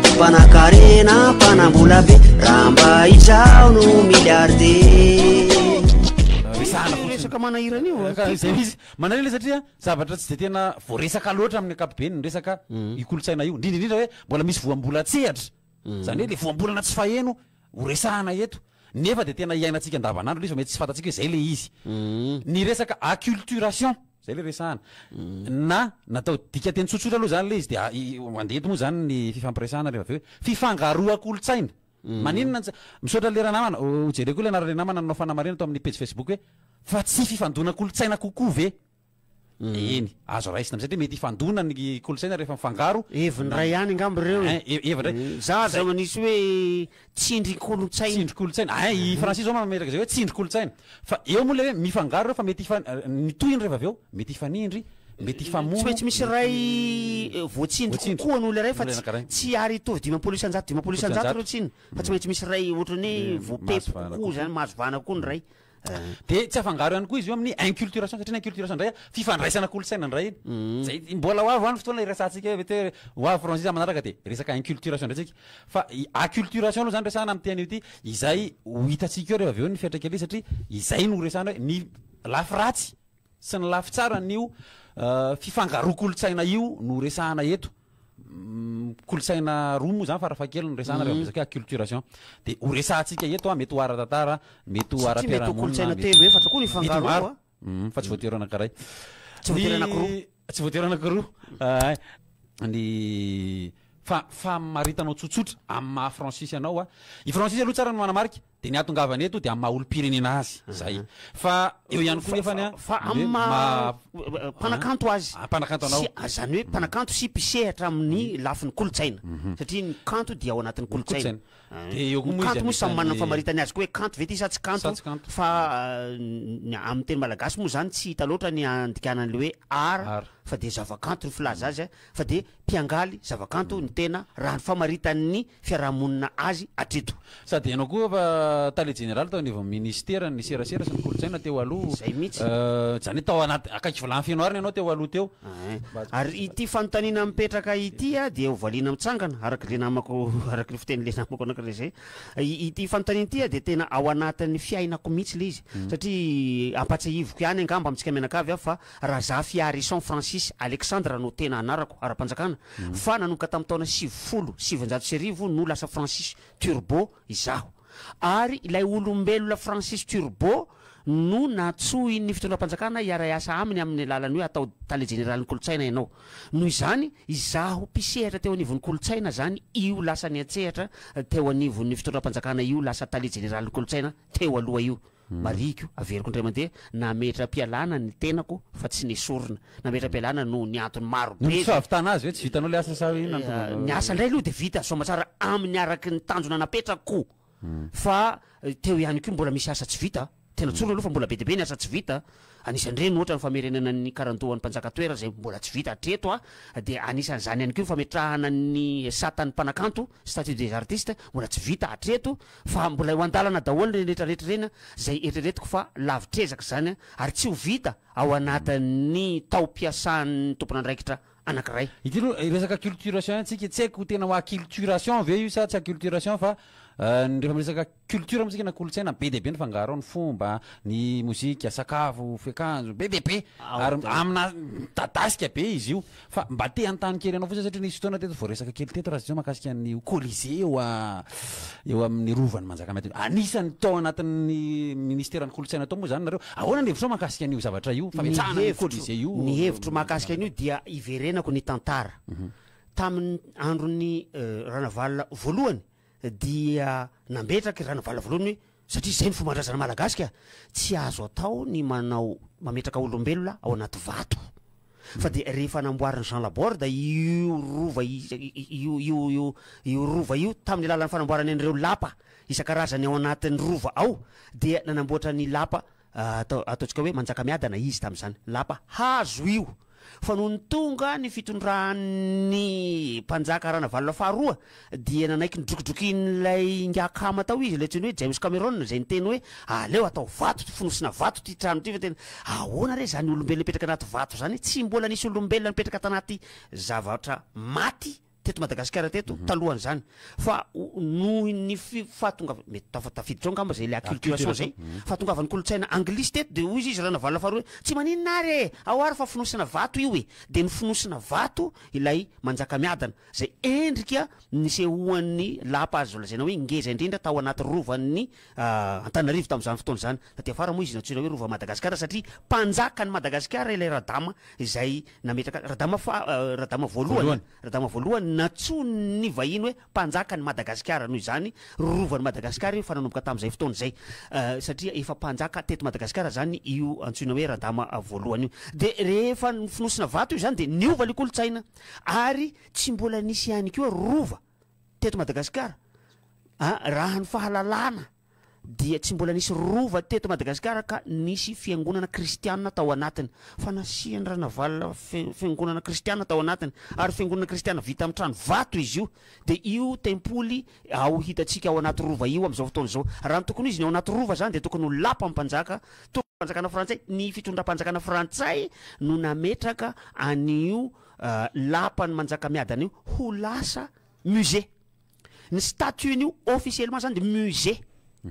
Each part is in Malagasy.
Mpanan-karena, mpanam-bola be, raha mba izaho no milliardaire. Resahana fotsiny. Resaka manahirana io a. Ka izay izy manahirana izy satria zavatra tsy dia tena voaresaka loatra amin'ny ankapobeny ny resaka io kolontsaina io, indrindra indrindra hoe mbola misy voambolan-tsehatra, izany hoe ilay voambolana tsy faheno. ho resahana eto nefa dia tena iainantsika andavanandro ilay izy fa mety tsy fantatsika hoe izay ilay izy. Ny resaka acculturation, izay ilay resahana, na natao dikanteny tsotsotra aloha izany ilay izy dia mandeha eto moa izany ny fifampiresahana rehefa avy eo hoe fifangaroan-kolontsaina. Maninona tsy, misaotra lera namana, hojereko koa ilay anaran'ilay namana nanao fanamarihana tao amin'ny pejy facebook hoe fa tsy fifandonan-kolontsaina kokoa ve? Eny, azo raisina amin'izay, dia mety hifandona ny kolontsaina rehefa mifangaro. Heviny iray ihany angamba ireo e. Ein, heviny iray. Za aza manisy hoe tsindrin-kolontsaina. Tsindrin-kolontsaina. Ein, i Francis izao mametraka izay hoe tsindrin-kolontsaina. Fa eo moa ilay hoe mifangaro ireo fa mety hifan-, ny tohiny rehefa avy eo, mety hifanindry, mety hifamono. Tsy maintsy misy iray voatsindry kokoa noho ilay iray fa tsy tsy ary hitovy dimampolo isan-jato dimampolo isan-jato ireo tsiny fa tsy maintsy misy iray ohatran'ny hoe voapepo kokoa izany, mahazo vahana kokoa ny iray. Dia tsy afangaro ihany koa izy io amin'ny inculturation satria ny inculturation indray a, fifandraisana kolontsaina indray iny. Izay i- mbola ho avy ho any fotoana iresahantsika hoe te- ho avy franchise manaraka dia resaka inculturation indray tsika. Fa i- acculturation aloha izany resahana amin'ity anio ity, izay ho hitantsika eo rehefa avy eo ny fiantraikany ity satria izay no resahana hoe ny lafy ratsy sy ny lafy tsara an'io fifangaroan-kolontsaina io no resahana eto. kolontsaina roa moa zany farafahakeliny no resahana rehefa miresaka hoe acculturation dia ho resahantsika eto a mety ho ara-tantara mety ho Satria mety ho kolontsaina ara-piarahamonina telo efatra koa ny mety ho fangarona maro koa. Mhm, fa tsy voatery ho anankiray Tsy voatery Ny- anankiroa. tsy voatery anankiroa Ahay. ny fa- famaritanao tsotsotra amin'ny maha fransisy anao a i fransisy aloha tsara ny manamarika Dia ny ahatongavany eto dia amin'ny maha olom-pirenena azy izay. Fa eo ihany koa nefany an. Fa amin'ny maha mpanakanto azy. Mpanakanto anao. Izany hoe mpanakanto sy mpisehatra amin'ny lafiny kolontsaina. Satria ny kanto dia ao anatin'ny kolontsaina. Dia eo koa moa izy anisan'ny. Ny kanto moa samy manana ny famaritany azy koa hoe kanto ve ity sa tsy kanto. Fa ny amin'ny teny malagasy moa izany tsy hita loatra ny andikana an'ilay hoe art fa dia zavakanto ny filaza azy. Fa dia mpiangaly zavakanto ny tena raha ny famaritan'ny fiarahamonina azy hatreto. Sady ianao koa efa tale jeneraly tao anivon'ny minisiteran'ny serasera sy ny kolontsaina teo aloha. Izay mihitsy. Izany hoe tao anaty, akaiky vilany feno arina ianao teo aloha teo. Ary ity fanontaniana mipetraka ity dia ho valiana mitsangana, araka ilay namako, araka ilay fitenin'ilay namako anankiray izay. Ity fanontaniana ity dia tena ao anatin'ny fiainako mihitsy ilay izy. Satria ampahatsiahiviko ihany angamba amintsika mianakavy aho fa Razafiarison Francis Alexandre no tena anarako ara-panjakana fa nanomboka tamin'ny taona sivifolo sy sivinjato sy arivo no lasa Francis Turbo izaho. Ary ilay olombelona Francis Turbo no nantsoin'ny fitondram-panjakana hiara-hiasa aminy amin'ny alalan'ny hoe atao Tale Jeneralin'ny Kolontsaina ianao. Noho izany, izaho mpisehatra teo anivon'ny Kolontsaina izany io lasa niantsehatra teo anivon'ny fitondram-panjakana io lasa Tale Jeneralin'ny Kolontsaina teo aloha io. Marihiko, averiko indray mandeha, nametram-pialana ny tenako fa tsy nesorina. Nametram-pialana noho ny antony maro be. Noho ny tsy fahavitana azy ve? Tsy vitanao ilay asa sa hoe inona no tonga Ny asa indray aloha dia vita soamatsara amin'ny araka ny tanjona napetrako fa teo ihany koa mbola misy asa tsy vita. Tena tsorina aloha fa mbola be dia be ny asa tsy vita Anisan'ireny ohatra ny famerenana ny karandohan'ny mpanjaka an-toerana izay mbola tsy vita hatreto dia anisan'izany ihany koa ny fametrahana ny satan'ny mpanakanto, statut des artistes, mbola tsy vita hatreto fa mbola eo an-dalana daholo ireny rehetra rehetra ireny izay eritreretiko fa lavitr'ezaka izany ary tsy ho vita ao anatin'ny taom-piasan'ny tompon'andraikitra anankiray. Ity aloha resaka acculturation antsika tsy haiko tena ho acculturation ve io sa tsy acculturation fa rehefa miresaka Culture amintsika na kolontsaina be dia be ny fangaro ao, ny fomba, ny mozika, sakafo, fiakanjo, be dia be ary amina midadasika be izy io fa mba te hanontany kely anao fotsiny satria nisy fotoana teto voaresaka kely teto raha tsy diso mahakasika ny colisée eo eo amin'ny rovan'i Manjakamiadana, anisan'ny tao anatin'ny ministeran'ny kolontsaina tao moa izany nareo, ahoana ny hevitrao mahakasika an'io zavatra io, fametrahana io colisée io? Ny hevitro mahakasika an'io dia iverenako ny tantara, tamin'ny andron'ny Ranavalona voalohany dia nambetraky Ranavalavoaloany hoe satria izay no fomban-drazana malagasy ka tsy azo atao ny manao mametraka olombelona ao anaty vato fa dia rehefa namboarin'i Jean Laborde io rova io io io io rova io tamin'ny alalan'ny fanamboarany an'ireo lapa isan-karazany ao anatin'ny rova ao dia nanamboatra ny lapa Atao, ataontsika hoe Manjakamiadana izy tamin'izany. Lapa hazo io. Fa nony tonga ny fitondran'ny Mpanjaka Ranavalona faharoa dia nanaiky ny drokodrokin'ilay ingahy akama tao izy, ilay antsoiny hoe James Cameron, izay niteny hoe, Aleo atao vato, fonosina vato ity trano ity fa tena, ahoana re izany olombelona hipetraka anaty vato izany? Tsy mbola nisy olombelona nipetraka tanaty zavatra maty. teto Madagasikara teto talohan'izany fa nohon'ny fahatongavana, mety tafiditra ao angamba zay le acculturation zay, fahatongavan'ny kolontsaina anglisy teto de hoy izy Ranavalona faharoa hoe tsy maninona ary e! ao ary fa fonosina vato io e! de ny fonosina vato ilay Manjakamiadana zay endrika nisehoan'ny lapa azo lazaina hoe ngeza indrindra tao anaty rovan'ny Antananarivo tamin'izany fotoana izany, taty afara moa izy nantsoina hoe Rova Madagasikara satria mpanjakan'i Madagasikara ilay Radama izay nametraka azy, Radama faha, Radama voalohany an, Radama voalohany nantsoin'ny vahiny hoe mpanjakan'i Madagasikara, noho izany Rovan'i Madagasikara io fa nanomboka tamin'izay fotoana izay satria efa mpanjaka teto Madagasikara izany io antsoina hoe Radama voalohany io. Dia rehefa fonosina vato io izany dia niova ilay kolontsaina ary tsy mbola nisy ihany koa Rova. teto Madagasikara a raha ny fahalalana dia tsy mbola nisy rova teto Madagasikara ka nisy fiangonana kristianina tao anatiny fa nasian'i Ranavalona fiangonana kristianina tao anatiny ary fiangonana kristianina vita amin'ny trano vato izy io dia io tempoly ao hitantsika ao anaty rova io amin'izao fotoana izao raha ny tokony izy ny ao anaty rova izany dia tokony ho lapa mpanjaka tokony fanjakana frantsay ny fitondram-panjakana frantsay no nametraka an'io Lapan'i Manjakamiadana io ho lasa musée. Ny statue-n'io officiellement zany dia musée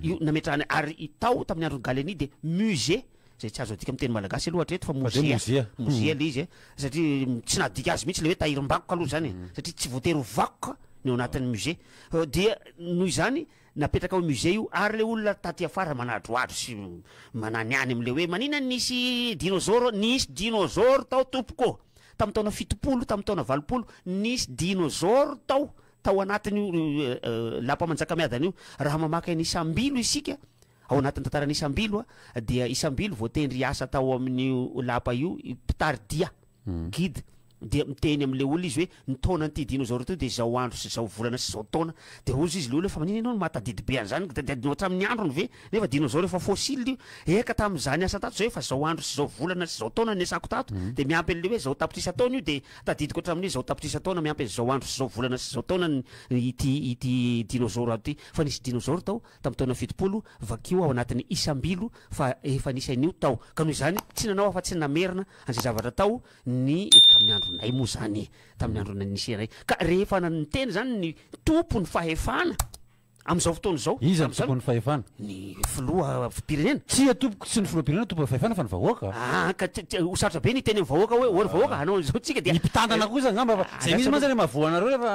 io nametrahana ary tao tamin'ny andron'i Gallieni dia musée izay tsy azo adika amin'ny teny malagasy aloha hatreto fa mozea, mozea ilay izy satria tsy nahadika azy mihitsy ilay hoe tahirim-bakoka aloha izany e, satria tsy voatery ho vakoka ny ao anatin'ny musée. Dia noho izany Napetraka ao musée io ary le olona taty afara manadroadro sy mananiany amle hoe manina nisy dinozoro, nisy dinozoro tao tompoko ô! Tamin'ny taona fitopolo, tamin'ny taona valopolo, nisy dinozoro tao, tao anatin'io lapa manjakamiadana io. Raha mamaky an'i Isambilo isika, ao anatin'ny tantaran'i Isambilo dia Isambilo voatendry hiasa tao amin'io lapa io mpitari-dia. guide dia miteny amin'ilay olona izy hoe ny taonan'ity dinôzaoro ity dia izao andro sy izao volana sy izao taona dia hozy izy ilay olona fa maninona ianao no mahatadidy be an'izany dia adinao hatramin'ny androny ve nefa dinôzaoro efa fossile io eka tamin'izaho niasa tato izao efa izao andro sy izao volana sy izao taona niasako tato dia miampy an'ilay hoe izao tapitrisa taona io dia tadidiko hatramin'ny hoe izao tapitrisa taona miampy an'izao andro sy izao volana sy izao taona ny ity ity dinôzaoro ato ity fa nisy dinôzaoro tao tamin'ny taona fitopolo, vakio ao anatin'ny isam-bilo fa efa nisy an'io tao, ka noho izany tsy nanao afa-tsy ny namerina an'izay zavatra tao ny. Tamin'ny andronay moa izany, tamin'ny andronay nisy iray, ka rehefa niteny izany ny tompon'ny fahefana amin'izao fotoana izao, Iza no tompon'ny fahefana? Ny filoham-pirenena. Tsia tompoko, tsy ny filoham-pirenena no tompon'ny fahefana fa ny vahoaka. Aa, ka ho sarotra be ny hiteny amin'ny vahoaka hoe, hoy ry vahoaka, hanao an'izao tsika dia. Ny mpitantana kosa angamba fa izay mihitsy mantsy ilay mahavoa anareo rehefa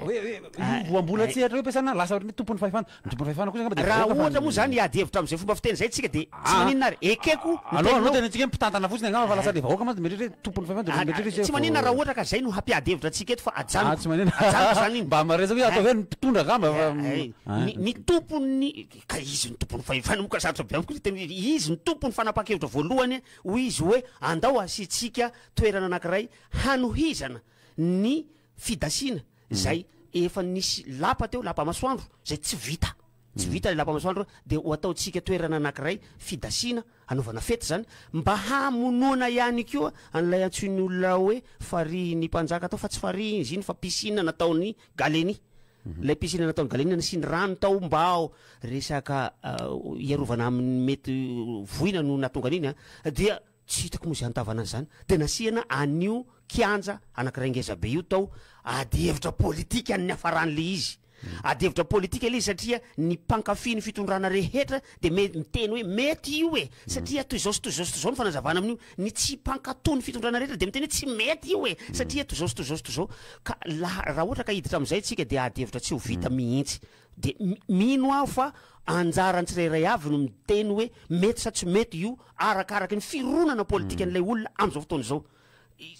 hoe, hoe. Io voambolan-tsehatra io ampiasana lasa ohatran'ny hoe tompon'ny fahefana. Ny tompon'ny fahefana kosa angamba dia vahoaka fa ny. Raha ohatra moa izany hiady hevitra amin'izay fomba fiteny izay isika dia tsy maninona ary. Ekeko ny teninao. Aleo dia antsika hoe mpitantana fotsiny angamba fa lasa ilay vahoaka mantsy dia mieritreritra hoe tompon'ny fahefana dia lasa mieritreritra hoe. Tsy maninona raha ohatra ka izay no hampiady hevitra antsika eto fa ajanoko. Tsy maninona. Ajanoko izany iny. Mba maresaka hoe ataovy hoe ny mpitondra angamba fa. Ny ny tompon'ny, ka izy no tompon'ny fahefana moa ka sarotra be amiko ny hiteny hoe izy no tompon'ny fanapahan-kevitra voalohany hoy izy hoe andao hasiantsika toerana anankiray hanohizana ny fidasiana zay efa nisy lapa teo, lapa masoandro zay tsy vita, tsy vita le lapa masoandro de ho ataontsika toerana anakiray fidasiana hanaovana fety zany mba hamonoana ihany koa an'ilay antsoin'ny olona hoe farihin'ny mpanjaka tao fa tsy farihy izy iny fa piscine nataon'i Galeni, ilay piscine nataon'i Galeni nasiany rano tao mba ho resaka hiarovana amin'ny mety voina no nahatonga an'iny an dia Tsy hitako moa izay antavana an'izany. Dia nasiana an'io kianja anankiray ngeza be io tao ady hevitra politika ny niafaran'ilay izy. Ady hevitra politika ilay izy satria ny mpankafy ny fitondrana rehetra dia me- miteny hoe mety io e! Satria toy izao sy toy izao sy toy izao ny fanazavana amin'io. Ny tsy mpankato ny fitondrana rehetra dia miteny hoe tsy mety io e! Satria toy izao sy toy izao sy toy izao. Ka laha, raha ohatra ka hiditra amin'izay isika dia ady hevitra tsy ho vita mihitsy. De mino aho fa anjaran'ny tsirairay avy no miteny hoe mety sa tsy mety io arakaraky ny fironana politikan'ilay olona amin'izao fotoana izao.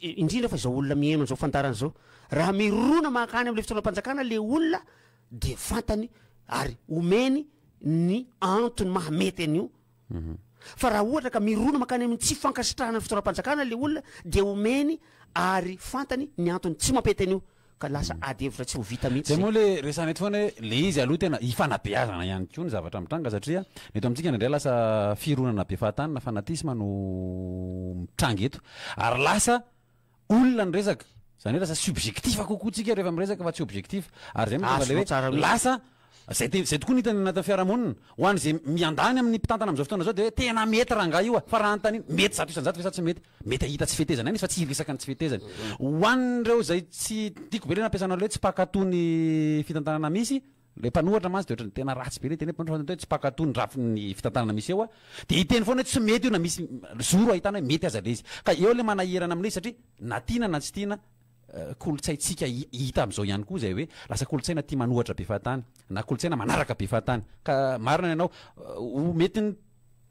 Indrindra fa izao olona miheno an'izao fandaharana izao. Raha mirona mankany amin'ilay fitondram-panjakana ilay olona dia fantany ary omeny ny antony maha mety an'io. Fa raha ohatra ka mirona mankany amin'ny tsy fankasitrahana ny fitondram-panjakana ilay olona dia omeny ary fantany ny antony tsy mampety an'io ka lasa ady hevitra tsy ho vita mihitsy izay. Dia moa ilay resahana eto foana hoe ilay izy aloha tena ifanabeazana ihany koa ny zavatra mitranga satria ny eto amintsika indraindray lasa fironana be fahatany na fanatisme no mitranga eto ary lasa olona ny resaka. Izany hoe lasa subjectif kokoa tsika rehefa miresaka fa tsy objectif. Ary izay no tonga ilay hoe lasa izay te, izay tokoa no hitany anatin'ny fiarahamonina. Ho an'izay miandany amin'ny mpitantana amin'izao fotoana izao dia hoe tena mety rangahy io a! Fa raha anontaniana, mety zato isan-jato ve sa tsy mety? Mety hahita tsy fetezana ihany izy fa tsy hiresaka ny tsy fetezany. Ho an'ireo izay tsy, tiako be ilay nampiasanao ilay hoe tsy mpankatò ny fitantanana misy, Ilay mpanohatra mantsy dia ohatran'ny tena ratsy be ilay teny hoe mpanohatra fantatro hoe tsy mpaka toa ny rafin'ny fitantanana misy eo aho dia hiteny foana hoe tsy mety io na misy zoro ahitana hoe mety aza ilay izy ka eo ilay manahirana amin'ilay izy satria na tiana na tsy tiana kolontsaintsika hita amin'izao ihany koa izay hoe lasa kolontsaina tia manohatra be fahatany na kolontsaina manaraka be fahatany ka marina ny anao mety ny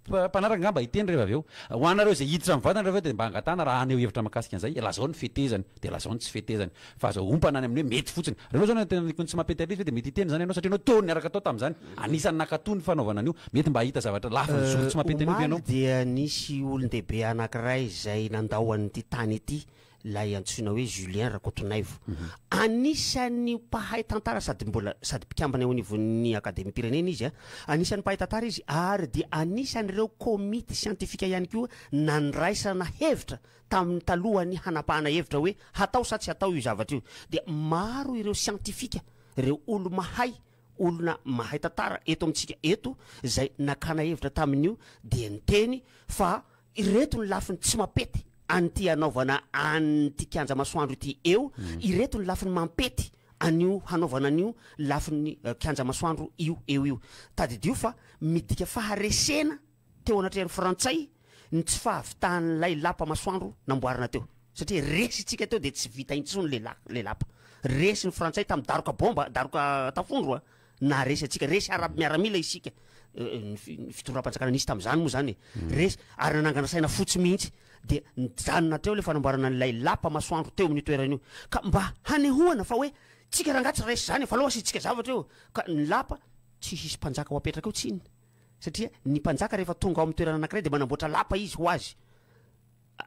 Mpanaraka angamba hiteny rehefa avy eo. Ho anareo izay hiditra amin'ny vatana rehefa avy eo dia mba angatahana raha haneho hevitra mahakasika an'izay, lazao ny fetezany, dia lazao ny tsy fetezany. Fa aza ompana any amin'ny hoe mety fotsiny. Rehefa izao no tena nikony tsy mampety atr'izy ve dia mety hiteny izany ianao satria ianao teo niaraka tao tamin'izany. Anisan'ny nankatoa ny fanaovana an'io. Mety mba hahita zavatra lavin'ny zoro tsy mampety an'io ve ianao? Omaly dia nisy olon-dehibe anankiray izay nandao an'ity tany ity ilay antsoina hoe Julien Rakotonaivo. Anisan'ny mpahay tantara sady mbola sady mpikambana eo anivon'ny Akademiam-pirenena izy a. Anisan'ny mpahay tantara izy ary dia anisan'ireo komity siantifika ihany koa nandraisana hevitra tamin'ny talohan'ny hanapahana hevitra hoe hatao sa tsy hatao io zavatra io. Dia maro ireo siantifika, ireo olo-mahay, olona mahay tantara eto amintsika eto izay nakana hevitra tamin'io dia niteny fa Ireto ny lafiny tsy mampety an'ity hanaovana an'ity kianja masoandro ity eo, ireto ny lafiny mampety an'io hanaovana an'io lafiny kianja masoandro io eo io. Tadidio fa midika faharesena teo anatrehan'ny frantsay ny tsy fahavitahan'ilay lapa masoandro namboarina teo. Satria resy itsika teo dia tsy vita intsony ilay lapa. Resy ny frantsay tamin'ny daroka bomba, daroka tafondro a! na resy antsika resy ara miaramila isika ny fitondram-panjakana nisy tamin'izany moa zany e mm. resy ary nanangana saina fotsy mihitsy dia nijanona hatreo le fanamboarana an'ilay lapa masoandro teo amin'ny toerana io ka mba hanehoana fa hoe tsika rangaha tsy resy zany e, fa aloha asitsika zavatra eo ka ny lapa tsy hisy mpanjaka ho apetraka eo tsiny satria ny mpanjaka rehefa tonga ao amin'ny toerana anankiray de manamboatra lapa izy ho azy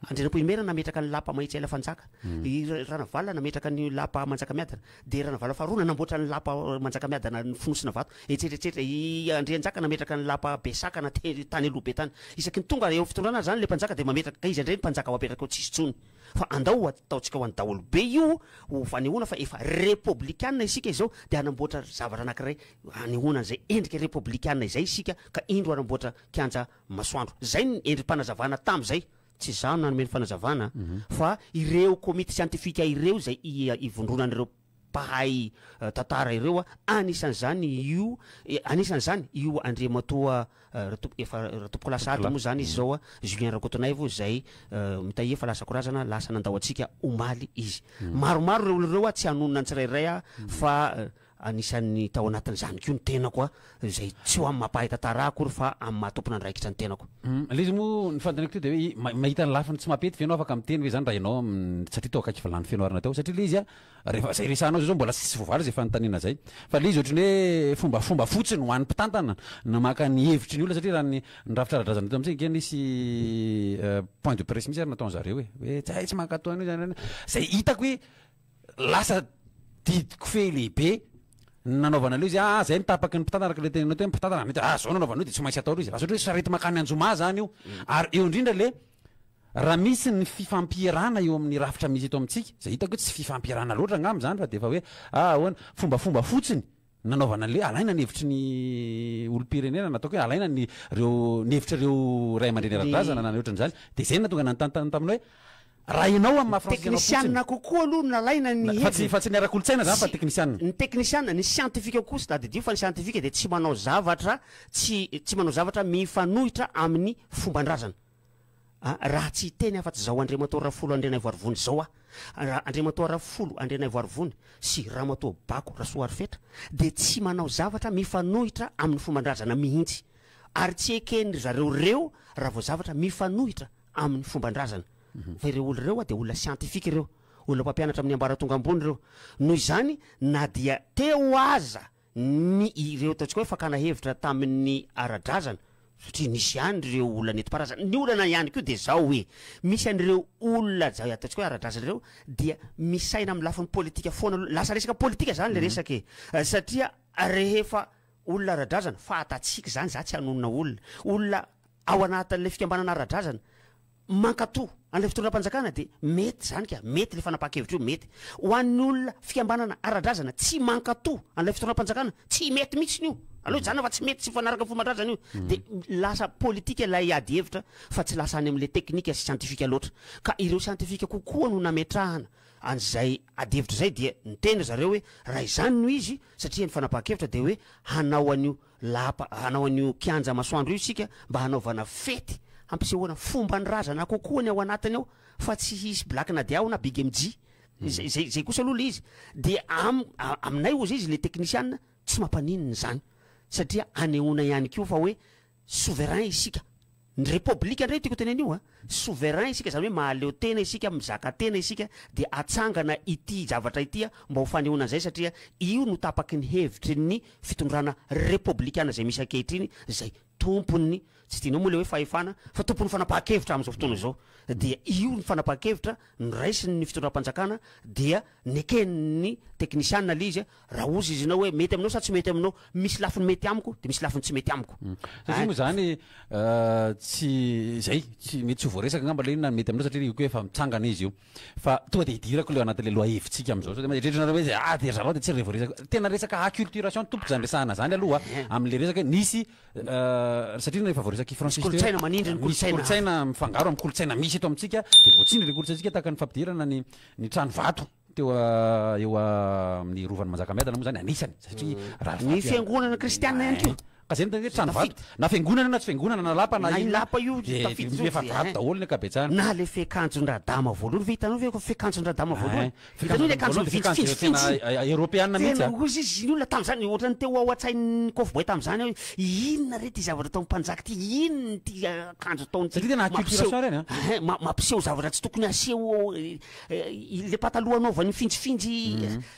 Andrianampoinimerina nametraka ny lapa Mahitsiaila Fanjaka, i Ranavalona nametraka ny lapa Manjakamiadana, dia Ranavalona faharoa nanamboatra ny lapa Manjakamiadana Fonosina Vato, etsy eretsetra, i Andrianjaka nametraka ny lapa Besakana tany aloha be tany. Isaky ny tonga eo fitondrana ary izany ilay mpanjaka dia mametraka, ka iza indray ny mpanjaka ho apetraka eo tsisy intsony, fa andao ho ataontsika ho an'ny daholobe io ho fanehoana fa efa repoblikana isika izao, dia hanamboatra zavatra anankiray hanehoana an'izay endrika repoblikana izay isika, ka indro hanamboatra kianja masoandro. Izay ny endri-panazavana tamin'izay. Tsy izaho no nanome ny fanazavana fa ireo komity siantifika ireo izay ivondronan'ireo mpahay tantara ireo, anisan'izany io, anisan'izany io Andriamatoa Ratompokolaso Ady moa izany izy izao, Julien Rakotonaivo, izay mitahia fa lasa korazana, lasa nandao antsika omaly izy. Maromaro ireo olona ireo, tsy hanonona ny tsirairay aho fa Anisan'ny tao anatin'izany koa ny tenako a, izay tsy ho amin'ny maha mpahay tantara ahy akory fa amin'ny maha tompon'andraikitra ny tenako. Ilay izy moa ny fanontaniako teo dia hoe ma- mahita ny lafiny tsy mampety ve ianao afaka miteny ve zany raha ianao am- satria tao akaiky vilany feno arina tao satria ilay izy a rehefa zay resahanao zay zao mbola tsisy voavaly zay fanontaniana zay fa ilay izy ohatran'ny hoe fombafomba fotsiny ho an'ny mpitantana na maka ny hevitry ny olona satria raha ny ny rafitra ara-drazana eto amintsika ange nisy eh, point de presse mihitsy ary nataon'zareo e hoe zay tsy mankatò an'io zany zay hitako hoe Lasa didy kofehy lehibe ny nanaovana an'ilay izy, ah zay ny tapaky ny mpitantana araka ilay teneninao teo ny mpitantana, mety ah zao no anaovana an'io dia tsy maintsy atao ilay izy, lasa ohatra hoe sarety mankany Anjomà zany io, ary eo indrindra le raha misy ny fifampierana eo amin'ny rafitra misy eto amintsika, zay hitako hoe tsy fifampierana loatra angamba zany fa dia efa hoe ah ahoana, fombafomba fotsiny. nanaovana an'ilay alaina ny hevitry ny olom-pirenena na ataoko hoe alaina ny ireo ny hevitr'ireo ray aman-dreny ara-drazana na ny ohatran'izany dia izay no nahatonga ny nanontany taminy hoe raha ianao amin'ny maha Frantsizanao fotsiny Teknisianina kokoa aloha no nalaina ny fa tsy heviny. fa tsy ny ara-kolontsaina izany fa teknisianina. Ny teknisianina, ny siantifika kosa tadidio fa ny siantifika dia tsy manao zavatra tsy tsy manao zavatra mifanohitra amin'ny fomban-drazana. Ah, raha tsy hiteny afa-tsy izao Andriamatoa Rafolo Andrianaivoarivony izao aho, raha Andriamatoa Rafolo Andrianaivoarivony sy Ramatoa Bako Rasoarifetra dia tsy manao zavatra mifanohitra amin'ny fomban-drazana mihitsy, ary tsy eken'ry zareo ireo raha vao zavatra mifanohitra amin'ny fomban-drazana, fa ireo olona ireo dia olona siantifika ireo, olona mpampianatra amin'ny ambaratonga ambony ireo, noho izany na dia teo aza ny ireo ataontsika hoe fakana hevitra tamin'ny ara-drazana satria nisy ihany ireo olona nentim-paharazana. Ny olana ihany koa dia izao hoe misy an'ireo olona izay ataontsika hoe ara-drazana ireo dia misaina amin'ny lafiny politika foana aloha. Lasa resaka politika izany ilay resaka e! satria rehefa olona ara-drazana, fahatatsika izany, izaho tsy hanonona olona, olona ao anatin'ilay fikambanana ara-drazana mankato an'ilay fitondram-panjakana dia mety izany ka, mety ilay fanapahan-kevitra io, mety. Ho an'ny olona fikambanana ara-drazana tsy mankato an'ilay fitondram-panjakana, tsy mety mihitsy io. Aleo hijanona fa tsy mety, tsy mifanaraka amin'ny fomban-drazana io. Mm. Dia lasa politika ilay ady hevitra fa tsy lasa any amin'ilay teknika sy siantifika loatra. Ka ireo siantifika kokoa no nametrahana an'izay ady hevitra izay dia niteny ry zareo hoe raha izany no izy satria ny fanapahan-kevitra dia hoe hanao an'io Lapa hanao an'io kianja masoandro io isika mba hanaovana fety hampisehoana fomban'ny razana kokoa ny ao anatiny ao fa tsy hisy Black Nadia na Big MJ izay izay izay kosa aloha le izy dia am- a- aminay hozy izy le teknisiana tsy mampaninona izany satria hanehoana ihany koa fa hoe souverain isika. Ny repoblika indray tiako hotenenina io a, souverain isika izany hoe mahaleo tena isika, mizaka tena isika dia hatsangana ity zavatra ity a, mba ho fanehoana an'izay satria io no tapaky ny hevitry ny fitondrana repoblikana izay misy ankehitriny izay tompon'ny, tsy tianao moa ilay hoe fahefana, fa tompon'ny fanapahan-kevitra amin'izao fotoana izao, dia io ny fanapahan-kevitra noraisin'ny fitondram-panjakana dia neken'ny teknisiana ilay izy a, Raha ozy izy anao hoe mety aminao sa tsy mety aminao, misy lafiny mety amiko dia misy lafiny tsy mety amiko. Hmm. Satria moa izany tsy izay, tsy mety tsy ho voaresaka angamba ilay na mety aminao satria io koa efa mitsangana izy io. Fa tonga dia hidirako ilay anatin'ilay lohahevitsika amin'izao sao dia eritreritranareo hoe ah dia ry zareo dia tsy re voaresaka. Tena resaka acculturation tompoko izany resahana izany aloha eh. amin'ilay resaka nisy satria rehefa voaresaka i Francis teo. Kolontsaina manindry ny kolontsaina. Kolontsaina mifangaro amin'ny kolontsaina misy eto amintsika dia voatsindry ilay kolontsaintsika tahaka ny fampidirana ny ny trano vato. Teo eo amin'ny Rovan'i Manjakamiadana moa izany anisany satria raha Ny fiangonana kristianina ihany koa. Ka izay no tena hoe trano vato. Na fiangonana na tsy fiangonana na lapa na inona. Na lapa io tafiditra io. Dia efa vato daholo ny ankabetsahany. Na ilay fiakanjon-dRadama voalohany ve hitanao ve ilay fiakanjon-dRadama voalohany? Hitanao ilay akanjo mifintsifintsy iny? Tena eoropeana mihitsy an! Tena hoy izy ny olona tamin'izany, ohatran'ny teo ao an-tsain'ny kofboy tamin'izany hoe inona re ity zavatra ataon'ny mpanjaka ity, inona ity akanjo ataon'ity? Satria tena acculturation ireny an! Mampiseho zavatra tsy tokony haseho Ilay pataloha anaovany finjifinjy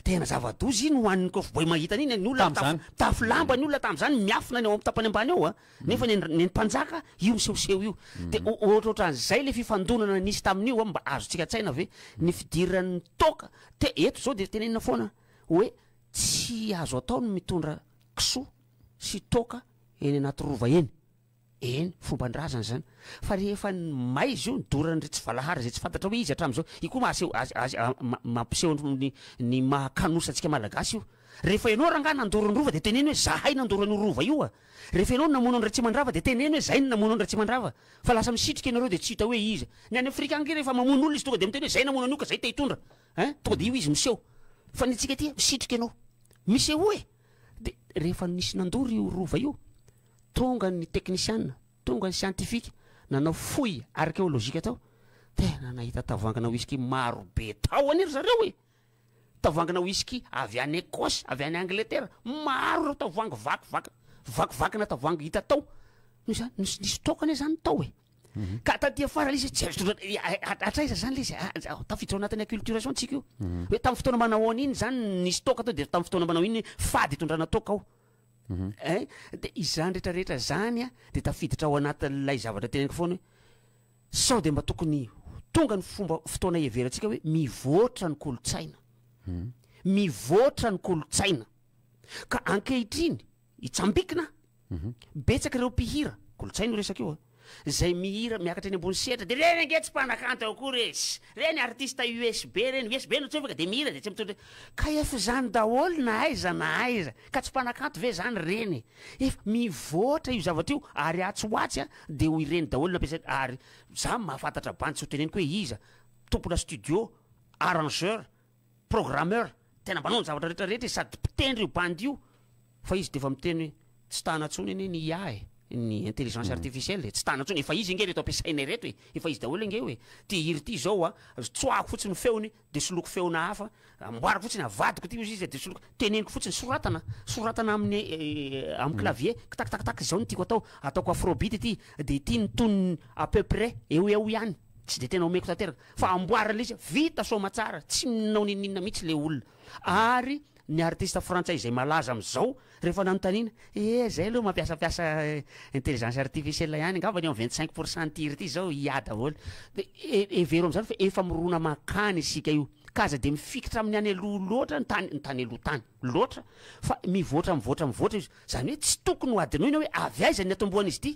tehina zava-doza iny ho an'ny cowboy mahita an'iny ny olona mitafy mitafy lamba ny olona tamin'izany miafina any ao amin'ny tapany ambany ao a nefa ny an'ny mpanjaka io misehoseho io dia ohatrohatran'izay ilay fifandonana nisy tamin'io a mba azontsika an-tsaina ve ny fidiran'ny toaka te eto izao dia tenenina foana hoe tsy azo atao ny mitondra kisoa sy toaka eny anaty rova eny Eny, fomban-drazana izany. Fa rehefa ny may zao ny doran'ireo tsy valahara izay tsy fantatra hoe iza hatramin'izao, io koa mahaseho azy azy mampiseho ny ny maha kanosa antsika malagasy io. Rehefa ianao rangahy nandoro ny rova dia teneno hoe zahay nandoro an'io rova io a! Rehefa ianao no namono an'i Ratsimandrava dia teneno hoe zay no namono an'i Ratsimandrava. Fa lasa misitrika ianareo dia tsy hita hoe iza. Ny any Afrika any re rehefa mamono olona izy tonga dia miteny hoe zay namono an'io ka zay te hitondra ein! Tonga dia io izy miseho. Fa ny antsika aty misitrika ianao. Misehoa e! Dia rehefa nisy nandoro io rova io. Tonga ny teknisiana, tonga ny siantifika, nanao fouille archéologique tao, tena nahita tavoangina whisky maro be tao anie ry zareo e! Tavoangina whisky avy any Ecosse, avy any Angletera, maro ireo tavoangy vakivaky, vakivakina tavoangy hita tao, noho izany, nisy nisy stock anie zany tao e! Ka taty afara le izy tsy azo tondrana, ya ya hatraiza zany le izy a, a tafiditra ao anatin'ny acculturation tsika io, hoe tamin'ny fotoana manao an'iny zany ny stock tao de tamin'ny fotoana manao iny fady itondrana toaka ao, Hein? Dia izany rehetra rehetra izany an, dia tafiditra ao anatin'ilay zavatra teneniko foana hoe, sao dia mba tokony tonga ny fomba fotoana hiheverantsika hoe mivoatra ny kolontsaina. Mivoatra ny kolontsaina. Ka ankehitriny, itsambikina an, betsaka ireo mpihira, kolontsaina io resaka io an, Zay mihira miakatra eny ambony sehatra de reny ange tsy mpanakanto akory e! Reny artiste USB reny, USB no tsofaka de mihira de tsy mitondra KF zany daholo na aiza na aiza ka tsy mpanakanto ve zany reny e! Efa mivoatra io zavatra io ary atsy ho atsy a de ho ireny daholo no ampiasaina ary za mahafantatra bandy tsy ho teneniko hoe iza, tompona studio, arrangeur, programmeur tena manao ny zavatra rehetra rehetra izy sady mpitendry io bandy io fa izy dia efa miteny hoe tsy tana intsony anie ny IA e ny intelligence hmm. artificielle e tsy tana intsony efa izy inge reto ampiasaina ireto e efa izy daholo inge hoe ty hiry ty izao a tsoahako fotsiny ny feony dia soloko feona hafa amboariko fotsiny avadiko ty ozy izy dia soloko teneniko fotsiny soratana soratana amin'ny eh, amin'ny hmm. clavier kitakitakitak izao ny tiako atao ataoko afrobeat ity dia ity ny tonony à peu près eo eo ihany Tsy dia tena omeko tanteraka fa amboary ilay izy a! Vita soamatsara, tsy ninona nininona mihitsy ilay olona. Ary ny artista frantsay izay malaza amin'izao, rehefa nanontaniana, ee izay aloha mampiasampiasa intelligence artificielle ihany, angamba ny amin'ny vingt cinq pour cent tir ity izao IA daholo. Dia hevero amin'izany fa efa mirona mankany isika io, ka aza dia mifikitra amin'ny any aloha loatra ny tany, ny tany aloha tany loatra, fa mivoatra mivoatra mivoatra io. Izany hoe tsy tokony ho hadinoina hoe avy aiza ny niatombohan'izy ity?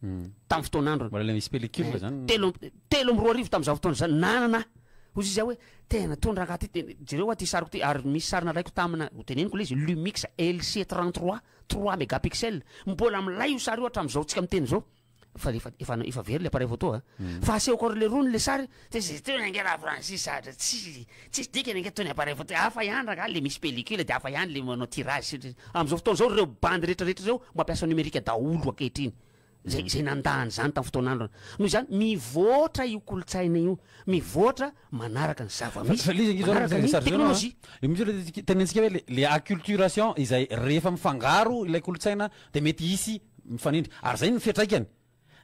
tamin'ny fotoan'androny. Mbola ilay misy pellicule izany. Telo amby, telo amby roa arivo tamin'izao fotoana izany, nanana aho. Hoy izy aho hoe, tena tony rangaha ity, te- jereo aho ity sariko ity, ary misy sary nalaiko tamina, ho teneniko ilay izy, Lumix LC33, trois megapixels. Mbola milay io sary io hatramin'izao tsika miteny izao. Fa efa, efa, efa very ilay appareil photo a. Fa asehoko an'ireo leroa ny ilay sary, Tsy zay tony ange la Francis ary tsy tsisy dikany ange tony appareil photo hafa ihany rangaha le misy pellicule de hafa ihany le manao tirage sy amzao fotoana zao reo bandy rehetra rehetra reo mampiasa numerique daholo ankehitriny zay zay nanda an'zany tam fotoan'androny noho izany mivoatra io kolontsaina io mivoatra manaraka ny zava Fa- misy fa le izy angizao manaraka ny zareo teknolojia an. Misy le tika- tenentsika hoe le- le acculturation izay rehefa mifangaro ilay kolontsaina dia mety hisy mifanindry ary zay no fiatraikany.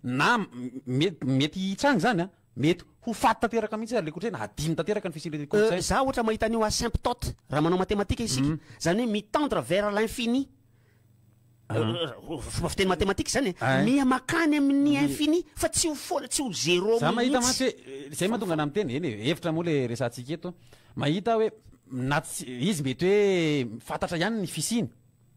na mety mety hitranga izany an! mety ho faty tanteraka mihitsy ary le kolontsaina hadino tanteraka ny fisian'ilay kolontsaina. Za ohatra mahita an'io asymptote raha manao matematika isika, zany hoe mi-tendre vers l'infini, fomba fiteny matematika izany e, miha makany amin'ny infini fa tsy ho foana, tsy ho zero mihitsy. Za mahita mantsy hoe, zay mahatonga anah miteny, eny e, hevitra moa le resahantsika eto, mahita hoe na tsy, izy mety hoe fantatra ihany ny fisiany,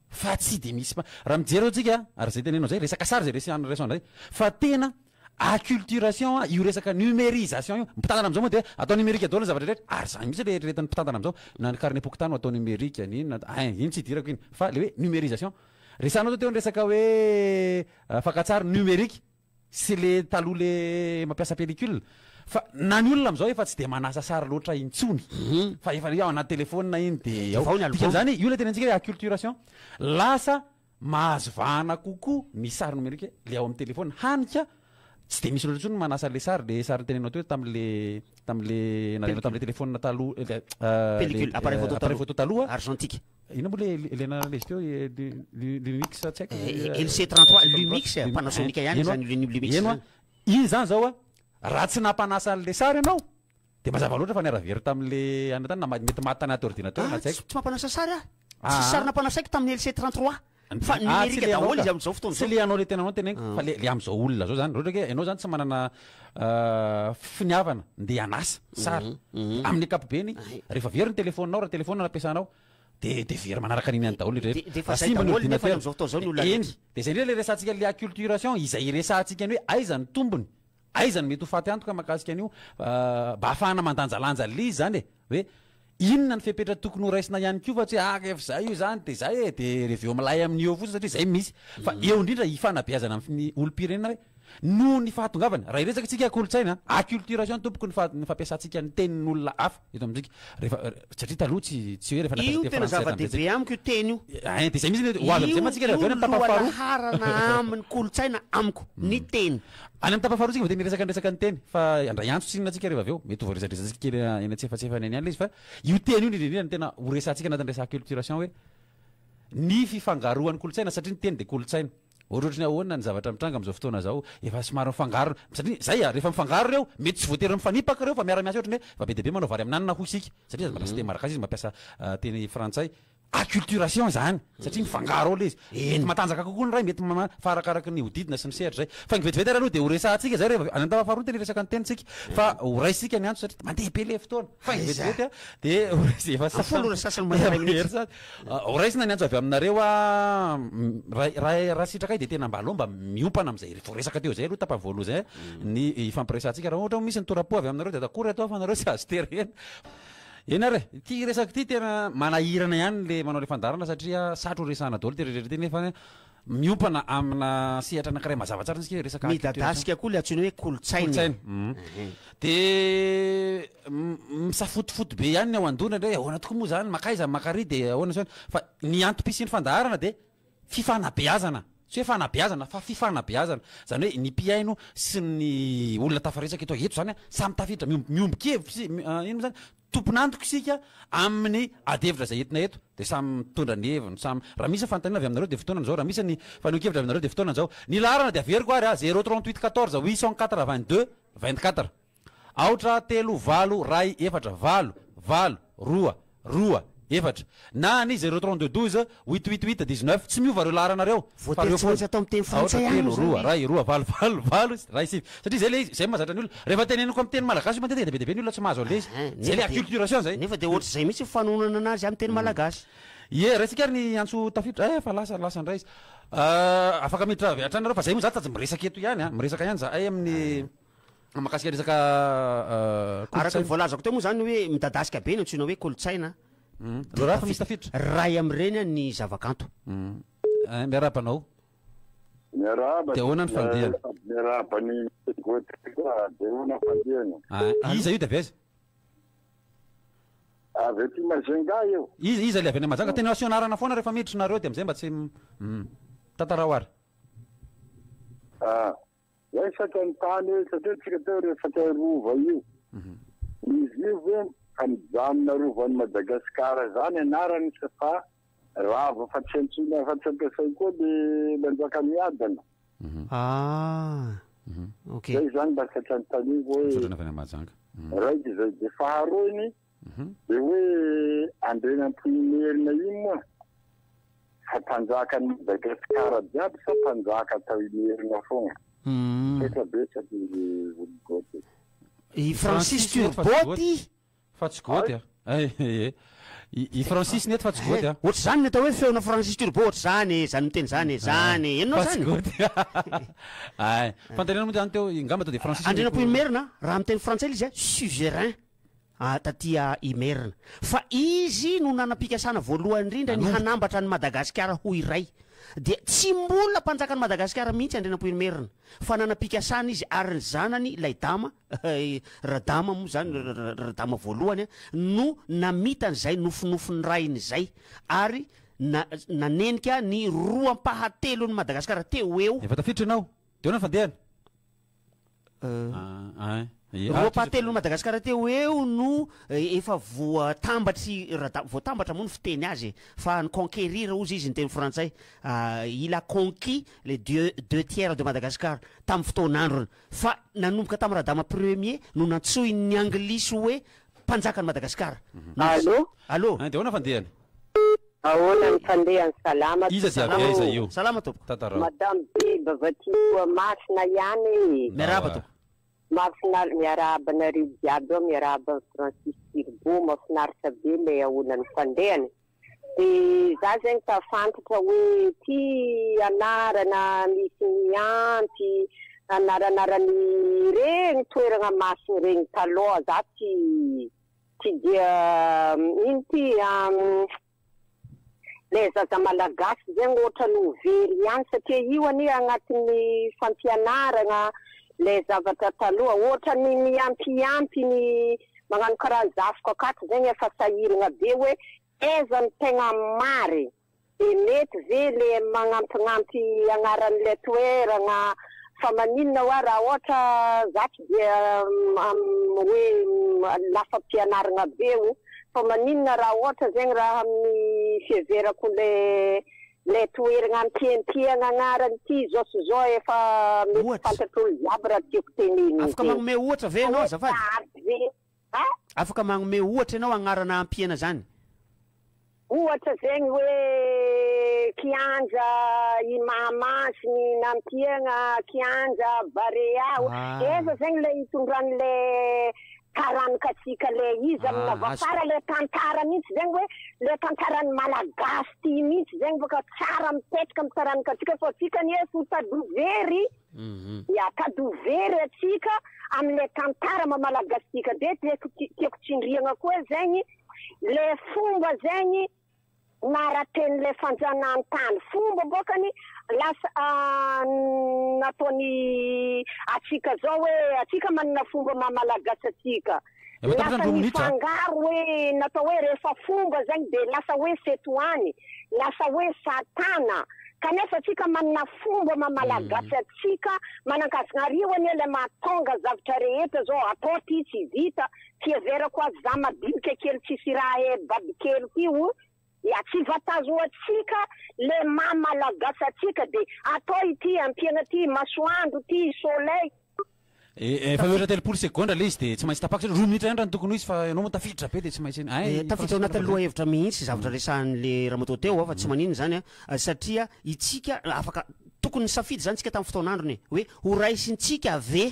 fa tsy dia misy mpa raha mijery eo tsika ary zay tenenao zay resaka sary zay resehan'ny resant zay fa tena acculturation io resaka numerisation io mpitantana amzao moa dia atao numerique daholo ny zavatra rehetra ary zany mitsy le eritreretan'ny mpitantana amzao na ny carnet pokontany atao numerique ny inona a hein iny tsy idirako iny fa le hoe numerisation resahanao zao teo ny resaka hoe fakantsary numerique sy le taloha le mampiasa pellicule fa na ny olona amzao efa tsy de manasa sary loatra intsony fa efa le ao anaty telephone iny de ao dikan'izany io le tena antsika hoe acculturation lasa mahazo vahana kokoa ny sary nomerika le ao amin'ny telephone hany ka tsy de misy loatra intsony manasa le sary le sary nitenenao teo tamle tamle nalainao tamle telephone taloha le appareil photo taloha argentique Inona moa le le anarana lesy teo Lumix tsy haiko. LC 33 Lumix Panasonic ihany izany Lumix izany. Iny izany zao a raha tsy nampanasa an'le sary ianao de mazava loatra fa niara very tamin'le anona tany na mety maty tanaty ordinateur na tsy haiko. Tsy mampanasa sary aho. Tsisy sary nampanasaiko tamin'ny LC 33. Fa numérique daholo izy amin'izao fotoana izao. Tsy le anao le tenanao no teneniko fa le amin'izao olona izao zany. Raha ohatra ke ianao zany tsy manana finiavana ndeha hanasa sary amin'ny ankapobeny rehefa very ny telefoninao raha telefona no ampiasanao de de very manaraka an'iny ihany daholo rehetra. De efa zay daholo nefa amin'izao fotoana izao ny olona rehetra. Eny, de zay ndray le resahantsika le acculturation, izay resahantsika ny hoe aiza ny tombony. Aiza no mety ho faty antoka mahakasika an'io? Mba ahafahana mandanjalanja lzy izany e! Hoe inona ny fepetra tokony ho raisina ihany koa fa tsy hoe ah rehefa izay io izany dia izay e! dia reveo milay amin'io eo fotsiny satria izay misy. Fa eo indrindra hifanabeazana amin'ny olom-pirenena hoe noho ny fahatongavany, raha hiresaka isika kolontsaina, acculturation tompoko ny fa ny fampiasantsika ny tenin'olona hafa. eto amintsika rehefa satria taloha tsy tsy hoe rehefa nampiasa teny frantsay tamin'izay. Io tena zava-dehibe amiko io teny io. Ein dia izay mihitsy ilay hoe ho avy amin'izay mantsika raha avy eo any amin'ny tapany faharoa. Io no lohalaharana amin'ny kolontsaina amiko ny teny. Any amin'ny tapany faharoa isika vao tena hiresaka ny resaka ny teny fa handray antso tsinona isika rehefa avy eo. Mety ho voaresadresantsika kely eny antsefatsefany eny ihany ilay izy fa io teny io indrindra indrindra no tena ho resahantsika anatin'ny resaka acculturation hoe ny fifangaroan'ny kolontsaina satria ny teny dia kolontsaina. Ohatrohatry ny ahoana ny zavatra mitranga amin'izao fotoana izao? Efa somary mifangaro, satria izay a, rehefa mifangaro ireo, mety tsy voatery mifanipaka ireo fa miara-miasa ohatrany hoe fa be dia be manao vary amin'anana hoy isika, satria izy mampiasa teny malagasy izy mampiasa teny frantsay, acculturation izany, satria mifangaro ao ilay izy. Mety matanjaka kokoa ny iray, mety ma, fa arakaraky ny hodidina sy ny sehatra izay. Faingo vetivety ary aloha dia horesahantsika izay rehefa, any amin'ny tafa faharoa no tena hiresaka ny tenintsika, fa horaisintsika ny antony satria mandeha be ilay fotoana. Faingo vetivety dia horesy, efa sasany, efa hery sasany. Horaisina ny antso avy aminareo aho. Raha raha sitrakai dia tena mba aleo mba miompana amin'izay voaresaka teo izay aloha tapany voalohany izay ny hifampiresahantsika. Raha ohatra hoe misy ny tora-po avy aminareo dia ataoko ry ato aho fa nareo tsy azo tery eny. Eny ary e, ity resaka ity tena manahirana ihany ilay manao ilay fandaharana satria satry ho resahana daholo ity rehetra ity nefa Miompana amina sehatra anankiray mazava tsara isika hoe resaka culture zany. Midadasika koa ilay antsoina hoe kolontsaina. Kolontsaina. Dia misafotofoto be ihany ny ao an-doha indraindray, ahoana tokoa moa izany, makaiza ny makary dia ahoana sy ahoana. Fa ny antom-pisian'ny fandaharana dia fifanabeazana. Tsy hoe fanabeazana fa fifanabeazana. Izany hoe ny mpihaino sy ny olona tafaresaka eto izany samy tafiditra, miombo-kevitra, inona moa izany, Tompon'antoka isika amin'ny ady hevitra izay entina eto dia samy mitondra ny heviny, samy, raha misy fanontaniana avy aminareo dia fotoanany izao, raha misy ny fanehoan-kevitra avy aminareo dia fotoanany izao. Ny laharana dia averiko ary a, zéro trente huit quatorze huit cent quatre vingt deux vingt quatre, aotra telo valo ray efatra, valo, valo, roa, roa, efatra, na any zero trente deux douze huit huit huit dix neuf, tsy miova ireo laharana ireo fa ireo foana, aotra, telo, roa, iray, roa, valo, valo, valo, iray, sivy, satria izay ilay izy, izay no mahazatra ny olona, rehefa teneniko amin'ny teny malagasy io matetika dia be dia be ny olona tsy mahazo an'ilay izy, izay ilay acculturation izay. Nefa dia ohatr'izay mihitsy ny fanononana anazy amin'ny teny malagasy. Ie, raisintsika ary ny antso tafiditra, eh efa lasa, lasa indray izy, afaka miditra avy hatrany ianareo fa izay moa izaho tsy atsy miresaka eto ihany an, miresaka ihany izahay amin'ny. Mahakasika resaka kolontsaina. Araka ny voalazako teo moa izany hoe midadasika be no antsoina hoe kolontsaina. Raharaha fa misy tafiditra. Iray amin'ireny ny zavakanto. Miarahaba anao. Miarahaba. Dia ahoana ny fandihana? Sady miarahaba ny Mister Gauthier koa. Dia ahoana ny fandihana? Iza io dia avy aiza? Avy aty Majunga io. Iza iza ilay avy any Majunga? Tena asio anarana foana rehefa miditra nareo dia amin'izay mba tsy tantarao ary. Ah. Resaka ny tany eo satria tsika teo resaka rova io. Izy io ve fa mijanona rovan'i Madagascar izany anarany sa fa rava fa tsy antsoina afa tsy ampiasay koa le manjaka miadana. Ah ok. Zay zany mba satra notaniako hoe. Misaotra anao avy any Mahajanga. Raika izay dia faharoany Dia hoe Andrianampoinimerina iny moa fa mpanjakan'i Madagasikara jiaby sa mpanjaka tao Imerina foana? Misaotra betsaka izy Olo Gody. I Francis Turbo ty fa tsy Gody a! Ehe! I Francis nety fa tsy Gody a! Ohatr'izany ny atao hoe feona Francis Turbo ohatr'izany e! Izany miteny izany e! Izany e! Henonao izany? Fa tsy Gody! Ay! Fandainana moa izany teo, ngamba to dia Francis no. Andrianampoinimerina, raha miteny frantsay ilay izy a, suzerain. a taty a Imerina fa izy no nanam-pikasana voalohany indrindra ny hanambatra an'i Madagasikara ho iray dia tsy mbola mpanjakan'i Madagasikara mihitsy Andrianampoinimerina fa nanam-pikasana izy ary ny zanany ilay dama Radama moa izany Radama voalohany no namitany izay nofinofin'ny rainy izay ary na nanenika ny roa ampahatelon'i Madagasikara teo eo Efa tafiditra ianao. Dia ahoana ny fandehana? Roapahatelon'i Madagasikara teo ho eo no efa voatambatr'i Rada, voatambatra moa ny fiteny azy e, fa ny conquérir hozy izy ny teny frantsay, il a conquis les dieux deux tiers de Madagascar tamin'ny fotoan'androny, fa nanomboka tamin'i Radama premier no nantsoin'ny anglisy hoe mpanjakan'i Madagasikara. Allo? Allo? Dia ahoana fandehany? Ahoana ny fandehany salama tompoko. Iza dia avy aiza io? Salama tompoko. Tantarao. Madame Deba va ty toa masina ihany e. Miarahaba tompoko. Mahafinaritra, miarahaba anareo jiaby ao, miarahaba an'i Francis Turbo, mahafinaritra be ilay ahoana ny fandehany. Dia za zegny ka fantatra hoe ty anarana misy ny ampy anaranarany regny toeragna masina regny taloha za tsy Tsy dia mino ity an! Ilay zaza malagasy izay no ohatran'ny ho very ihany satria io anie anatin'ny fampianarana ilay zavatra taloha ohatran'ny mihampihampy ny magnano karaha zafy kakato zegny efa sahiragna be hoe aiza no tegna mary e! Dia mety ve le magnampignampy agnaran'ilay toeragna fa maninona oa raha ohatra za tsy dia hoe lasa pianaragna be o fa maninona raha ohatra zegny raha amin'ny fiheverako le le toeragna ampiampiagna agnarany ty zao sy zao efa mety fantatr'olo jiaby raha tiako tenenina zay. Afaka magnome ohatra ve enao azafady? Afaka magnome ohatra ianao agnarana hampihena zany? Ohatra zegny hoe kianja i Mahamasiny na Ampiegna kianja Barea eza zegny le itondrany le taranikasika le izy amina vao tsara le tantara mintsy zegny hoe le tantarany malagasy ty mintsy zegny baka tsara mipetraka am taranikasika fa tsika anie fotadoha very. Ya ka do very atsika amle tantara mamalagastika de tiako tiako tsindriagna koa zegny le fomba zegny naratenle fanjanahantany fomba bokany lasa nataony atsika zao hoe atsika manana fomba maha malagasy atsika Lasa nifangaro hoe natao hoe rehefa fomba zegny de lasa hoe setohany, lasa hoe satana, kanefa atsika manana fomba ma malagasy atsika manankasigna ary io anie le mahatonga zavatra rehetra zao atao ty tsy vita, fiheverako azy za madinika kely tsisy raha e babikely ty o. Ya tsy vatazoantsika le maha malagasy atsika de atao ity ampiana ity masoandro ity soleil. Efa mihoatra telopolo segondra ilay izy dia tsy maintsy tapako satria roa minitra ihany raha ny tokony ho izy fa ianao moa tafiditra be dia tsy maintsy hay ny Tafiditra ao anatin'ny lohahevitra mihitsy zavatra resahan'le ramatoa teo fa tsy maninona izany an, satria itsika afaka tokony nisafidy izany tsika tamin'ny fotoan'androny e, hoe horaisintsika ve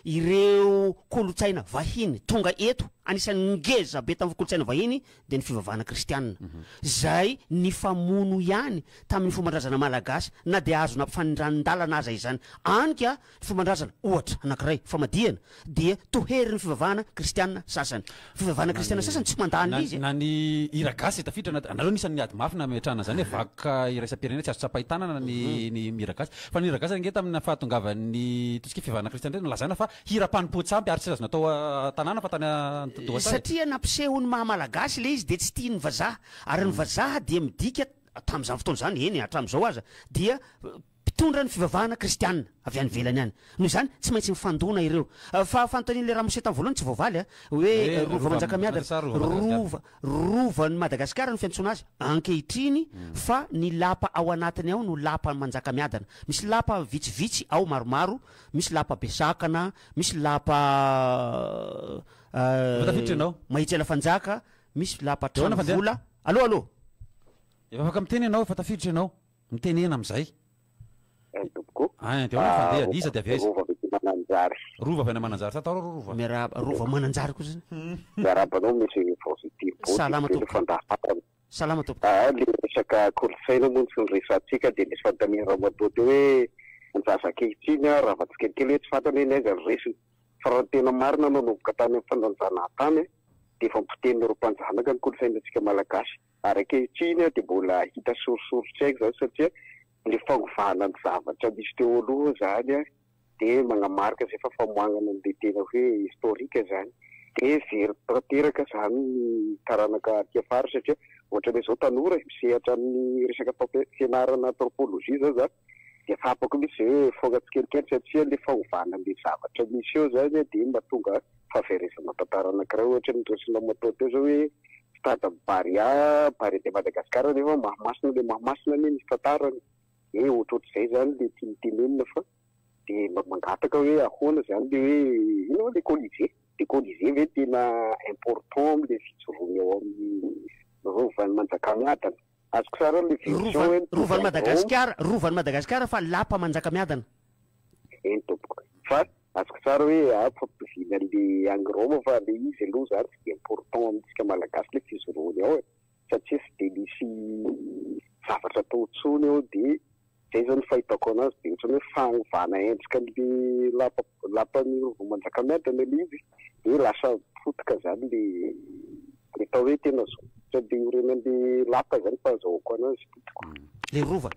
ireo kolontsaina vahiny tonga eto, anisan'ny ngeza be tamin'ny kolontsaina vahiny dia ny fivavahana kristianina, izay nifamono ihany tamin'ny fomban-drazana malagasy na dia azo nampifanindranin-dalana aza izany. Any ka, ny fomban-drazana, ohatra, anankiray, famadihana, dia toherin'ny fivavahana kristianina sasany. fivavahana kristiana sasany tsy mandà an'ilay izy e. Na ny hira gasy izay tafiditra anaty, anareo anisan'ny miady mafy na metrahana izany hoe vakoka iraisam-pirenena tsy azo tsapain-tanana ny ny hira gasy. Fa ny hira gasy ange tamin'ny fahatongavan'ny ataontsika hoe fivavahana kristiana indray no lazaina fa hira mpanompoan-tsampy ary tsy azo natao an-tanàna fa tany an-doha tany. Satria nampiseho ny maha malagasy ilay izy dia tsy tian'ny vazaha. Ary ny vazaha dia midika tamin'izany fotoana izany, eny hatramin'izao aza, dia Mpitondra ny fivavahana kristiana avy any ivelany any. Noho izany, tsy maintsy mifandona ireo. Fa fanontanian'ilay ramose tamin'ny voalohany tsy voavaly an! Hoe Rova Manjakamiadana, Rova, Rovan'i Madagasikara no fiantsoana azy ankehitriny fa ny lapa ao anatiny ao no Lapa Manjakamiadana. Misy lapa vitsivitsy ao maromaro, misy lapa Besakana, misy lapa Efa tafiditra ianao. Mahitsela Fanjaka, misy lapa Tranovola. Allo, allo! Efa afaka miteny ianao, efa tafiditra ianao. Mitenena amin'izay. Ay tompoko. Ay dia ahoana ny fandehany? Iza dia avy aiza? Rova avy aty Mananjary. Rova avy any Mananjary. Tsa taoro Rova. Miarahaba, Rova Mananjary koa zany. Miarahaba anao Monsieur Vovity Bodo. Salama tompoko. Fa ndà fantany. Salama tompoko. Aa ilay resaka kolontsaina moa no resahantsika dia nisy fanontaniana ramatoa teo hoe ny zaza ankehitriny an rava tsikelikely hoe tsy fantany hoe ny aiza no resiny. Fa raha ny tena marina nanomboka tany amin'ny fandanjana tany dia efa nipotehina ireo mpanjanaka ny kolontsainantsika malagasy. Ary ankehitriny dia mbola hita sorisorin-tsaiko izany satria ilay fanovana ny zavatra nisy teo aloha izany dia manamarika izay fa famoahana an'ilay tena hoe historique izany. Dia very tanteraka izany ny taranaka aty afara satria ohatranay izao tanora e, misehatra amin'ny resaka fampianarana anthropologie izao za, Dia tsapako mihitsy ve hoe mifoka tsikelikely satria ilay fanovana an'ilay zavatra misy eo izany dia mahatonga fahaverezana tantara anankiray ohatra ny resona moto teo izao hoe stade am Barea, Barea de Madagascar nefa Mahamasina ilay Mahamasina anie misy tantarany hoe ohatrohatr'izay izany ilay tiany tenenina fa dia mba mangataka hoe ahoana izany ilay hoe inona moa ilay colisée? Ilay colisée ve tena important amin'ilay fijoroany ao amin'ny rovan'i Manjakamiadana? Azoko sary hoe ilay vision hoe Rovan, mitondra Rovan'i drone. Madagasikara, Rovan'i Madagasikara fa lapa Manjakamiadana. Eny tompoko. Fa azoko sary hoe ampitovina an'ilay any Roma fa ilay izy aloha izany tsy dia important amintsika Malagasy ilay fijoroany ao e. Satria tsy dia misy zavatra atao intsony ao dia. Izay izao no fahitako anazy dia ohatran'ny hoe fanovana endrika an'le lapa lapan'ny rova manjakamiadana ilay izy dia lasa potika izany ilay ilay atao hoe tena zo ohatran'ny ilay orenan'ilay lapa izany fahazahoako anazy potika. Ilay rova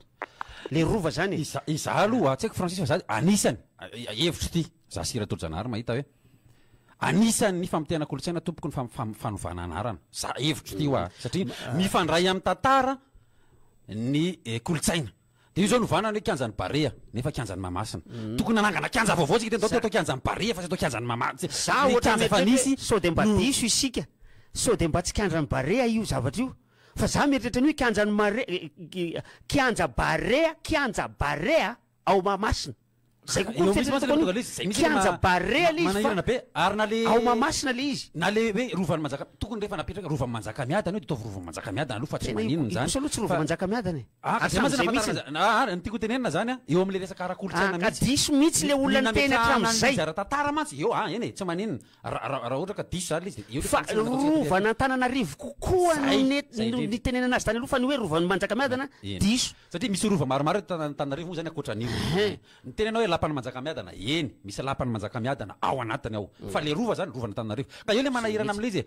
ilay rova izany e. Izaho aloha tsy haiko Francis fa izaho anisany hevitro ity. Za sy Ratojanaary mahita hoe anisan' ny famotehana kolontsaina tompoko ny fanovana anarana. Za hevitro ty hoa satria mifandray amin'ny tantara ny eh, kolontsaina. Dia io zao novana ny hoe kianjan'ny Barea nefa kianjan'ny Mahamasina. Mm. Tokony nanangana kianja vaovao tsika teny atao kianjan'ny Barea fa tsy atao kianjan'ny Mahamasina. Za ohatra ny efa nisy sao dia mba diso isika. Sao dia mba tsy kianjan'ny Barea io zavatra io. Fa za mieritreritra ny hoe kianjan'ny Marea eh, eh, kianja Barea, kianja Barea. ao Mahamasina. Zay kokoa ny fieritreretako an'io. Kianja Barea le izy fa ao Mahamasina le izy. Na le hoe Rovan'i Manjakamiadana, tokony rehefa napetraka Rovan'i Manjakamiadana io dia ataovy Rovan'i Manjakamiadana aloha fa tsy maninona izany. Tena ikosa aloha tsy Rovan'i Manjakamiadana e. Aa ka diso mihitsy le olona niteny hatramin'izay. Aa ny tiako hotenenina izany an, eo amin'ilay resaka ara-kolontsaina mihitsy. Aa ka diso mihitsy le olona niteny hatramin'izay. Ny nametrahana ny zara-tantara mantsy eo an, eny e, tsy maninona. Ra- ra- Raha ohatra ka diso zany le izy dia eo le Fa fantsika ataontsika taty aloha. rovan'Antananarivo kokoa no Zay, net- zay no indrindra. nitenenana azy tany aloha fa ny hoe rovan'i Manjakamiadana Eny. diso. Satria misy rova maromaro eto Tana- Antananarivo moa zany ankoatra an'io. Hein. Ny tena hoe lapan'i Manjakamiadana, eny, misy lapan'i Manjakamiadana ao anatiny ao. Fa le rova zany, rovan'Antananarivo. Ka eo le manahirana amin'ilay izy e.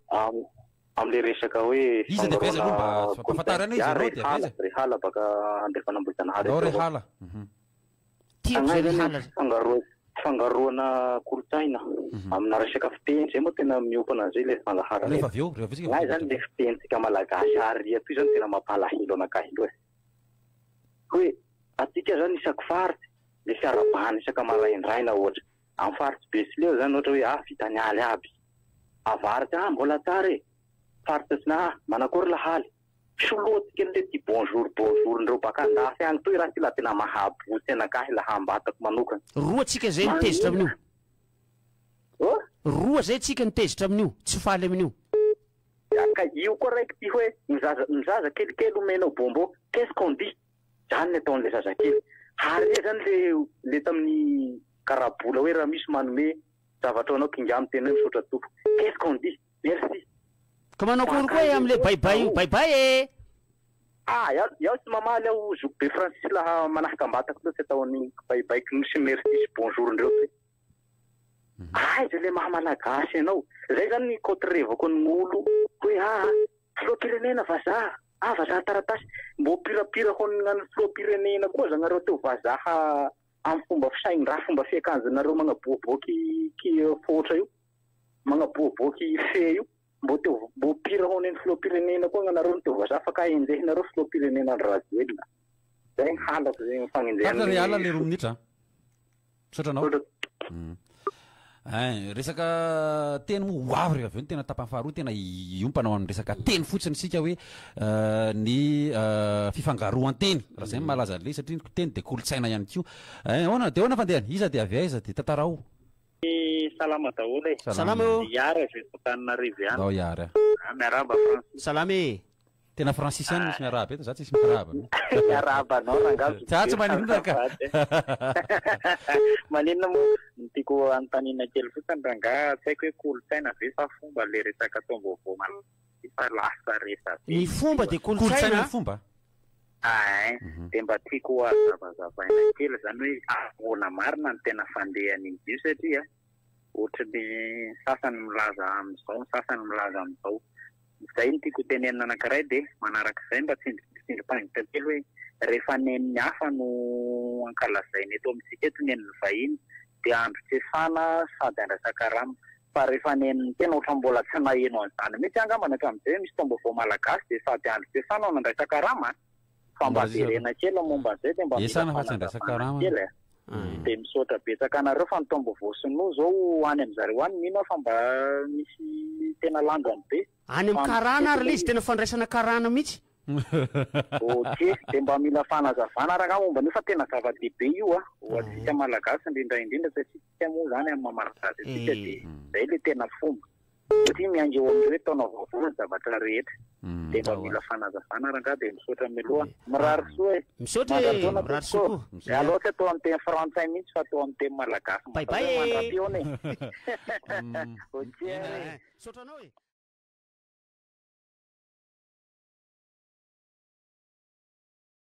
Amin'ilay resaka hoe fandrahoana gulpin, izaho Rehala, Rehala baka Andrefan'Ambohijanahary aty aoriana. Fanahy zany hoe fangaroana, fangaroana kolontsaina amina resaka fiteny, izay moa tena miompana an'izay ilay fandaharana e. Fanahy zany ilay fitenintsika malagasy ary atoy zany tena mampalahelo anakahy loha e. Hoe atsika zany isaky faritra misy fiarahabana isaka maraindraina ohatra, Am faritsy be sy leo zany ohatra hoe ah vitany aly aby avaratra ah mbola tsara e faritra sina ah manakory lahaly solotiko any le ty bonjour bonjour ndreo baka andafy any toy ra ty la tena mahabotsy anakahy la hambatako manokana Roa tsika zay ny tezitra amin'io. Oh? Roa zay tsika ny tezitra amin'io, tsy faly amin'io. Ka io koa raiky ty hoe ny zaza ny zaza kelikely omenao bonbon, qu'est-ce qu'on dit? Zany ny ataon'ilay zazakely. Harea zany le le tamin'ny karabola hoe raha misy manome zavatra ho anao kinga amiko ianao misaotra tompoko. Qu'est-ce qu'on dit? Merci. Ka manao akory koa e amle bay bay io, bay bay e! Ah, iao iao tsy mamaly aho zoky be frantsisy laha manahaka ambatako loatra atao an'iny bay bay knou sy merci sy bonjour ndreo toy. Aiza ilay maha malagasy anao? Zay zany ny cotrevako an'olo hoe ah filoham-pirenena vazaha! Ava zany taratasy. Mbô mpirapira ho an'ny filoham-pirenena koa zanareo teo vazaha amin'ny fomba fisainy ra fomba fiakanjonareo magnaboaboaky ki foatra io magnaboaboaky fe io mbô teo mbô mpira ho an'ny filoham-pirenena koa anareo no teo vazaha fa ka enjehinareo filoham-pirenena Andry Rajoelina zay ny halako zay ny fagnenjehan'ny Tatra re ala le roa minitra a. Misaotra anao. Hmm. Eh, resaka teny moa ho avy rehefa avy eo ny tena tapany faharoa tena hiompana ao amin'ny resaka teny fotsiny isika hoe eh, ny eh, fifangaroan-teny raha izay malaza an'ilay satria ny teny dia kolontsaina ihany koa eh, ahoana dia ahoana fandehany iza dia avy aiza dia tantarao salama daholo e. Salama eo. Yara izay fotanina revy ihany. Ndao Yara. Ah, miarahaba Francis. Salama e. Tena francis ihany misy miarahaba eto, za tsisy miarahaba mihitsy. Miarahaba anao rangaha Zokibe. Za tsy maninona ka. Maninona moa ny tiako hanontaniana kely fotsiny rangaha, tsy haiko hoe kolontsaina ve sa fomba ilay resaka taom-baovao malagasy ity fa lasa resabe be. Ny fomba dia kolontsaina a. Aay, dia mba tiako hazavazavaina kely izany hoe ahoana marina no tena fandehan'izy io satria. Ohatry ny sasany milaza amin'izao, ny sasany milaza amin'izao. Izay no tiako hotenenina anankiray dia manaraka izay mba tsindrim-pangintsika kely hoe rehefa nen'ny hafa no ankalazaina eto amintsika eto nen'ny vahiny dia androkesana sady andraisan-karama. Fa rehefa nen'ny tena ohatran'ny mbola tsy naheno an'izany mihitsy angambany hatramin'izay hoe misy taom-baovao malagasy dia sady androkesana no andraisan-karama a! Fa mba jerena kely momba an'izay dia mba mila fanazavana kely e. Dia misaotra betsaka anareo fa ny taom-baovao sinoa izao any amin'ny zareo any mino aho fa mba misy tena lanjany be. Any amin'ny karana ary ilay izy, tena fandraisana karana mihitsy. Ok, dia mba mila fanazavana ary angaha momba an'io fa tena zava-dehibe io ho antsika Malagasy indrindra indrindra satria. Tsy moa izany amin'ny maha-malagasy antsika dia izay ilay tena fomba. Satria miainga eo amin'ny hoe taona vaovao ny zavatra rehetra. Dia mba mila fanazavana rangaha dia misaotra mialoha. Mirary soa e! Misaotra e! Mirary soa koa! Mialoha tsy atao amin'ny teny frantsay mihitsy fa atao amin'ny teny malagasy Bye bye e!